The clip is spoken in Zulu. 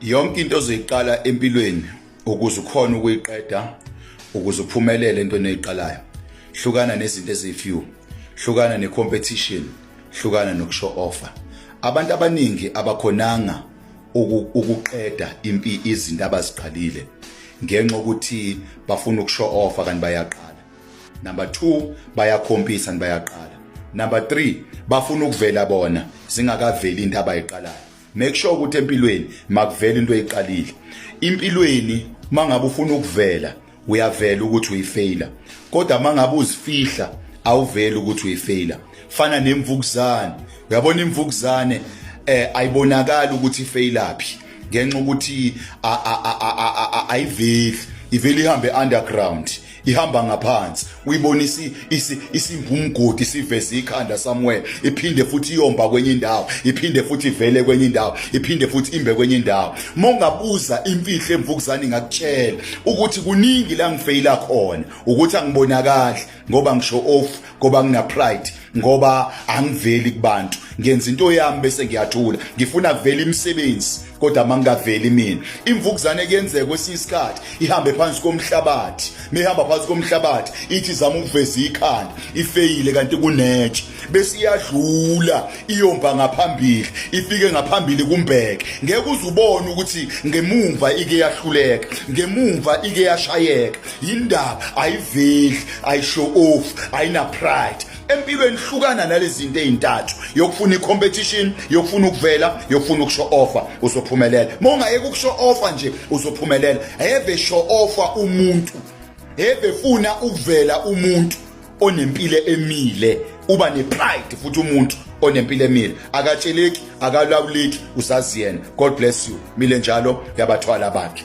yonke into ozoyiqala empilweni ukuze ukhona ukuyiqeda ukuze uphumelele entweni oyiqalayo hlukana nezinto ezifew hlukana necompetition hlukana nokushow offer abantu abaningi abakhonanga ukuqeda impi izinto abaziqalile ngenxa ukuthi bafuna ukushow offer kanti bayaqala number 2 bayakhompisa bayaqala number 3 bafuna ukuvela bona zingakaveli into abayiqalayo make sure ukuthi empilweni makuvela into eyiqalile impilweni mangabe ufuna ukuvela uyavela ukuthi uyifeyila kodwa mangabe uzifihla awuveli ukuthi uyifeyila fana nemvukuzane uyabona imvukuzane eh ayibonakala ukuthi ifeyilaphi ngenxa ukuthi ayiveli ivele ihambe underground ihamba ngaphansi uyibonisa isimba umgodi siveze ikhanda somewhere iphinde futhi iyomba kwenye indawo iphinde futhi ivele kwenye indawo iphinde futhi imbe kwenye indawo uma ungabuza imfihlo emvukuzane ngakutshela ukuthi kuningi la ngifeyila khona ukuthi angibonakali ngoba ngisho off ngoba ngina pride ngoba angiveli kubantu ngenza into yami bese ngiyathula ngifuna kuvela imisebenzi kodwa mangingaveli mina imvukuzane kuyenzeka kwesinye isikhathi ihambe phansi komhlabathi mehamba phansi komhlabathi ithi izama ukuveza ikhanda ifeyile kanti kunetshe bese iyadlula iyomba ngaphambili ifike ngaphambili kumbheke ngeke uzubone ukuthi ngemumva ike yahluleka ngemumva ike yashayeka yindaba ayiveli ayishow off ayina pride empilweni hlukana nalezinto ezintathu yokufuna icompetition yokufuna ukuvela yokufuna ukusho offer uzophumelela mongayeke ukusho offer nje uzophumelela heve show offer umuntu heve funa ukuvela umuntu onempilo emile uba nepride futhi umuntu onempilo emile akatsheleki akalawuleki usazi yena god bless you mile njalo yabathwala bakhe